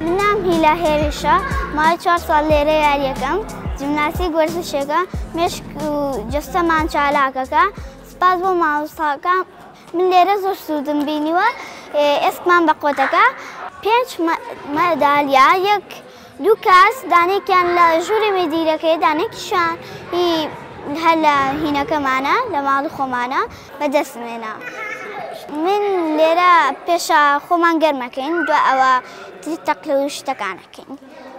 من ناوم هیلا هێرشە، ماوەی چوار ساڵ لێرە یارییەکەم. جیمناستیک وەرزشێکە مێشک و جەستەمان چالاکەکە. سپاس بۆ مامۆستاکان، من لێرە زۆر سوودم بینیوە، ئێسکمان بە قوتەکە. پێنج مەدالیا، یەک دوو کاس، دانەیەکیان لە ژووری مدیرەکەیە، دانەیەکیشیان هەر لە هینەکەمانە، لە ماڵی خۆمانە. بەدەستم هێنا. من لێرە پێشە خۆمان گەرمەکەین دو ئەوە تری تەقلە و شتەکان ئەکەین.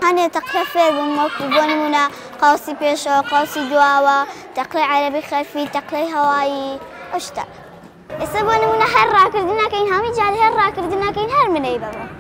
هەنێ تەقلە فێر بووم وەکو بۆ نمونە قوسی پێشەوە، قوسی دواوە، تەقلەی عەرەبی خەلفی، تەقلەی هەوایی ئەو شتانە. ئێستا بۆ نمونە هەر ڕاکردن ئەکەین هەمووی جار هەر ڕاکردن ئەکەین هەر منەی بەمە.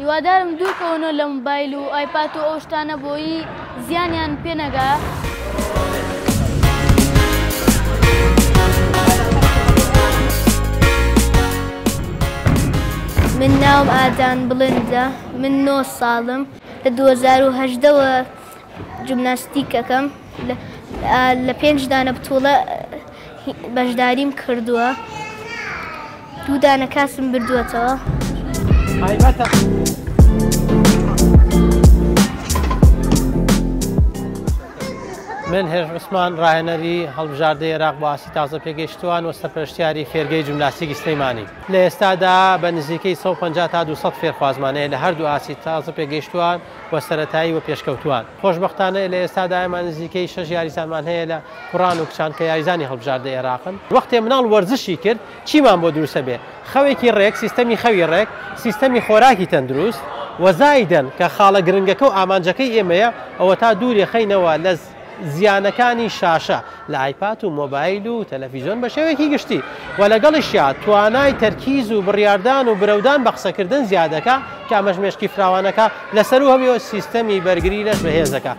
هیوادارم دوورکەونەوە لە موبایل و ئایپات و ئەو شتانە بۆیی زیانیان پێ نەگا. من ناوم ئادان بڵندە من نۆ ساڵم لە دوو هەزار و هەژدە وە. جمناستیک ئەکەم لە پێنج دانە بتوڵە بەشداریم کردووە دوو دانە کاسم بردووەتەوە. من هێژ عوسمان ڕاهێنەری هەڵبژاردەی عێراق بۆ ئاسی تازە پێگەیشتوان و سەرپەرشتیاری فێرگەی جمناسیکی سلەیمانی لە ئێستادا بە نزیکەی 150 تا 200 فێرخوازمانەیە لە هەردوو ئاسی تازە پێگەیشتووان و سەرەتایی و پێشکەوتووان. خۆشبەختانە لە ئێستادا ئێمە نزیکەی شەش یاریزانمان هەیە لە کوڕان و کچان کە یاریزانی هەڵبژاردەی عێراقن. وەختێ مناڵ وەرزشی کرد چیمان بۆ دروستە بێ خەوێکی ڕێک، سیستەمی خەوی ڕێک، سیستەمی خۆراکی تەندروست و زایدەن کە خاڵە گرنگەکە و ئامانجەکەی ئێمەیە ئەوەتا دوورێ خەینەوە لە زیانەکانی شاشە لە ئایپات و مۆبایل و تەلەفیزۆن بە شێوەیەکی گشتی و لەگەڵیشیا توانای تەرکیز و بڕیاردان و برەودان بە قسەکردن زیاد دەکات کە ئەمەش مێشکی فراوانەکە لە سەروو هەبێ و سیستەمی بەرگری لەش بەهێز دەکات.